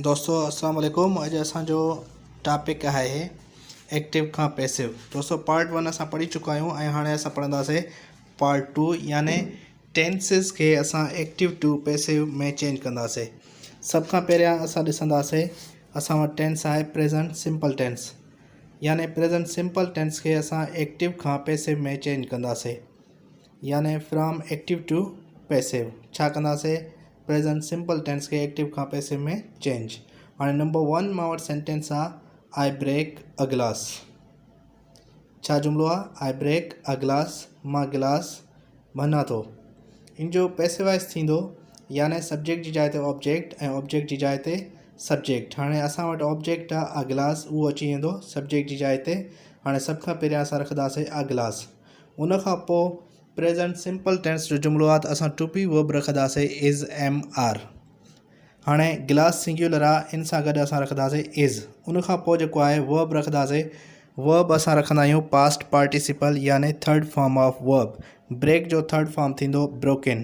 دوستو السلام عليڪم اڄ اسان جو ٽاپڪ آهي ايڪٽو کان پيسو دوستو پارٽ ون اسان پڙهي چڪا آهيون ۽ هاڻي اسان پڙهنداسي پارٽ ٽو يعني ٽينسز کي اسان ايڪٽو ٽو پيسو ۾ چينج ڪنداسي سڀ کان پهريان اسان ڏسنداسي اسان وٽ ٽينس آهي پريزنٽ سمپل ٽينس يعني پريزنٽ سمپل ٽينس کي اسان ايڪٽو کان پيسو ۾ چينج ڪنداسي يعني فرام ايڪٽو ٽو پيسو ڇا ڪنداسي پريزنٽ سمپل ٽينس کي ايڪٽو کان پيسو ۾ چينج هاڻي نمبر ون مان وٽ سينٽينس آ آئي بريڪ ا گلاس ڇا جملو آ آئي بريڪ ا گلاس مان گلاس ڀنان ٿو ان جو پيسو وائس ٿيندو يعني سبجيڪٽ جي جاء تي آبجيڪٽ ۽ آبجيڪٽ جي جاء تي سبجيڪٽ هاڻي اسان وٽ آبجيڪٽ آ ا گلاس اهو اچي ويندو سبجيڪٽ جي جاء تي هاڻي سڀ کان پهريان اسان رکنداسي ا گلاس ان کان پوء پريزنٽ سمپل ٽينس جو جملو آهي ته اسان ٽو بي ورب رکنداسين از ايم آر هاڻي گلاس سنگيولر آهي ان سان گڏ اسان رکنداسين از ان کان پوء جيڪو آهي ورب رکنداسين ورب اسان رکندا آهيون پاسٽ پارٽيسپل يعني third form of verb break جو ٿرڊ فارم ٿيندو بروڪن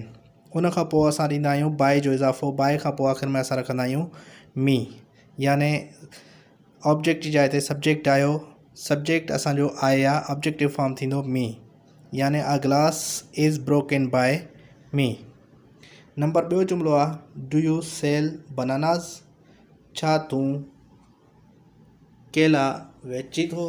ان کان پوء اسان ڏيندا آهيون بائي جو اضافو بائي کان پوء آخر ۾ اسان رکندا آهيون مي يعني آبجيڪٽ جي جاء تي سبجيڪٽ آيو. سبجيڪٽ اسان جو آء يا آبجيڪٽو فارم ٿيندو مي يعني a glass is broken by me. Number ٻيو جملو آ ڊو يو سيل بناناز ڇا تون ڪيلا ويچي ٿو؟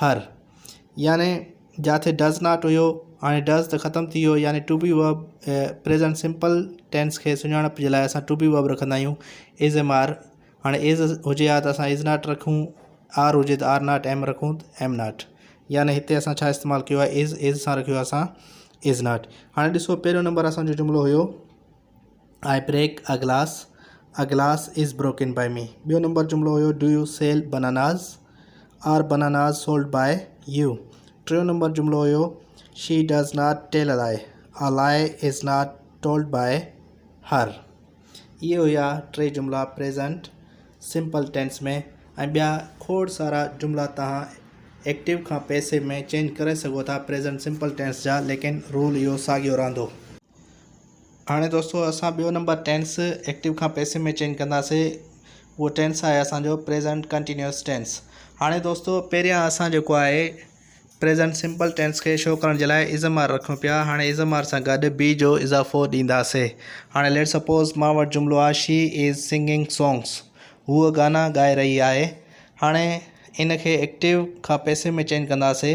هر، يعني جاٿي ڊز ناٽ هيو، هاڻي ڊز ته ختم ٿي ويو، يعني to be verb present simple tense کي سڃاڻپ جي لاء اسان ٽو بي ورب رکندا آهيون از ايم آر هاڻي از هجي ها ته اسان از ناٽ رکون آر هجي ته آر ناٽ ايم رکون ته ايم ناٽ يعني هتي اسان ڇا استعمال ڪيو آهي از از سان رکيو آهي اسان از ناٽ هاڻي ڏسو پهريون نمبر اسانجو جملو هيو I break a glass, a glass is broken by me. ٻيو نمبر جملو هيو do you sell bananas, are bananas sold by you. ٽيون نمبر جملو هيو she does not tell a lie, a lie is not told by her. اهي هيا ٽي جملا پريزنٽ سمپل ٽينس ۾ ۽ ٻيا کوڙ سارا جملا توهان ايڪٽو کان پئسو ۾ چينج ڪري سگهو ٿا پريزنٽ سمپل ٽينس جا ليڪن رول اهو ساڳيو رهندو. هاڻي دوستو اسان ٻيو نمبر ٽينس ايڪٽو کان پئسو ۾ چينج ڪنداسي اهو ٽينس آهي اسانجو پريزنٽ ڪنٽينيوس ٽينس هاڻي دوستو پهريان اسان جيڪو آهي پريزنٽ سمپل ٽينس کي شو ڪرڻ جي لاء ازم آر رکيون پيا هاڻي ازم آر سان گڏ بي جو اضافو ڏينداسي هاڻي ليٽ سپوز مان وٽ جملو آهي شي از سنگنگ سونگس هوء گانا ڳائي رهي آهي هاڻي ان کي ايڪٽو کان پئسو ۾ چينج ڪنداسي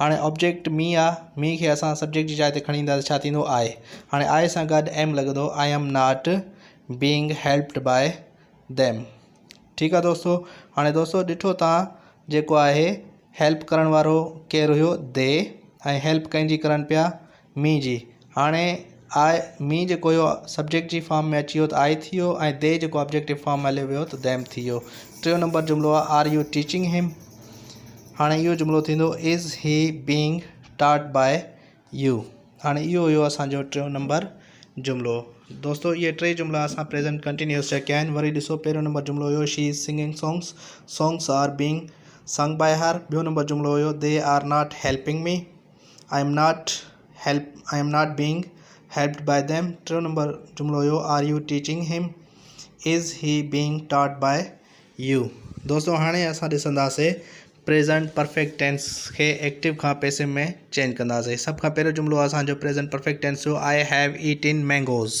هاڻي آبجيڪٽ مي آ، مي کي اسان سبجيڪٽ جي جاء تي کڻي اينداسين ڇا ٿيندو I هاڻي I سان گڏ am لڳندو I am not being helped by them ٺيڪ آ دوستو هاڻي دوستو ڏٺو تان جيڪو آهي help ڪرڻ وارو ڪير هيو they ۽ help ڪنهن جي ڪرن پيا مي جي هاڻي آء مي جيڪو هيو سبجيڪٽ جي فارم ۾ اچي ويو ته آء ٿي ويو ۽ دي جيڪو آبجيڪٽو فارم ۾ هليو ويو ته ديم ٿي ويو ٽيون نمبر جملو آ آر يو ٽيچنگ هيم هاڻي اهو جملو ٿيندو از هي بينگ ٽاٽ باء يو هاڻي اهو هيو اسانجو ٽيون نمبر جملو دوستو اهي ٽي جملا اسان پريزنٽ ڪنٽينيوس جا ڪيا آهن وري ڏسو پهريون نمبر جملو هيو she is singing songs songs are being sung by her ٻيو نمبر جملو هيو they are not helping me I am not help I am not being helped by them ٽيون نمبر جملو هيو are you teaching him is he being taught by you دوستو هاڻي اسان ڏسنداسي پريزنٽ پرفيڪٽ ٽينس کي ايڪٽو کان passive ۾ change ڪنداسي سڀ کان پهريون جملو اسانجو پريزنٽ پرفيڪٽ ٽينس جو I have eaten mangoes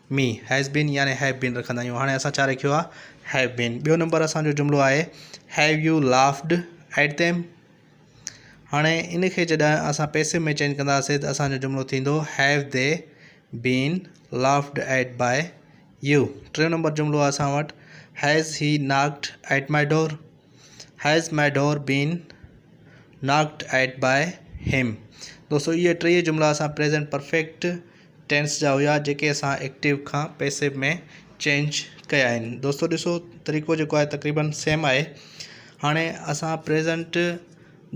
me has been يعني هيو بين رکندا آهيون هاڻي اسان ڇا رکيو آهي هيو بين ٻيو نمبر اسانجو جملو آهي have you laughed at them هاڻي ان کي جڏهن اسان پئسو ۾ چينج ڪنداسين ته اسانجو جملو ٿيندو هيو the been laughed at by you ٽيون نمبر جملو آهي اسان وٽ has he knocked at my door has my door been knocked at by him دوستو اهي ٽيئي جملا اسان پريزنٽ پرفيڪٽ ٽينس جا هيا جيڪي اسان ايڪٽيو کان پيسو ۾ چينج ڪيا آهن دوستو ڏسو طريقو جيڪو آهي تقريبن سيم آهي هاڻي اسان پريزنٽ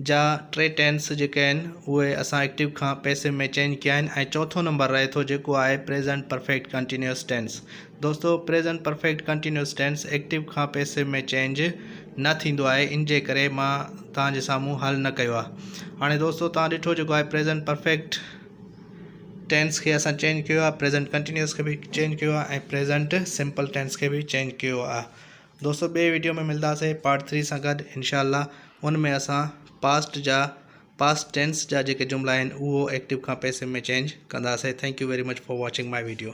جا ٽي ٽينس جيڪي آهن اهي اسان ايڪٽيو کان پيسو ۾ چينج ڪيا آهن ۽ چوٿون نمبر رهي ٿو جيڪو آهي پريزنٽ پرفيڪٽ ڪنٽينيوس ٽينس دوستو present perfect continuous tense active کان پيسو ۾ چينج نه ٿيندو آهي ان جي ڪري مان تان جي سامهون حل نه ڪيو آهي هاڻي دوستو تان ڏٺو جيڪو آهي پريزنٽ پرفيڪٽ ٽينس کي اسان چينج ڪيو آهي پريزنٽ ڪنٽينيوس کي به چينج ڪيو آهي ۽ پريزنٽ سمپل ٽينس کي به چينج ڪيو آهي دوستو ٻئي ويڊيو ۾ ملنداسي پارٽ ٿري سان گڏ انشاء الله ان ۾ اسان پاسٽ جا پاسٽ ٽينس جا جيڪي جملا آهن اهو ايڪٽو کان پيسو ۾ چينج ڪنداسي thank you very much for watching my video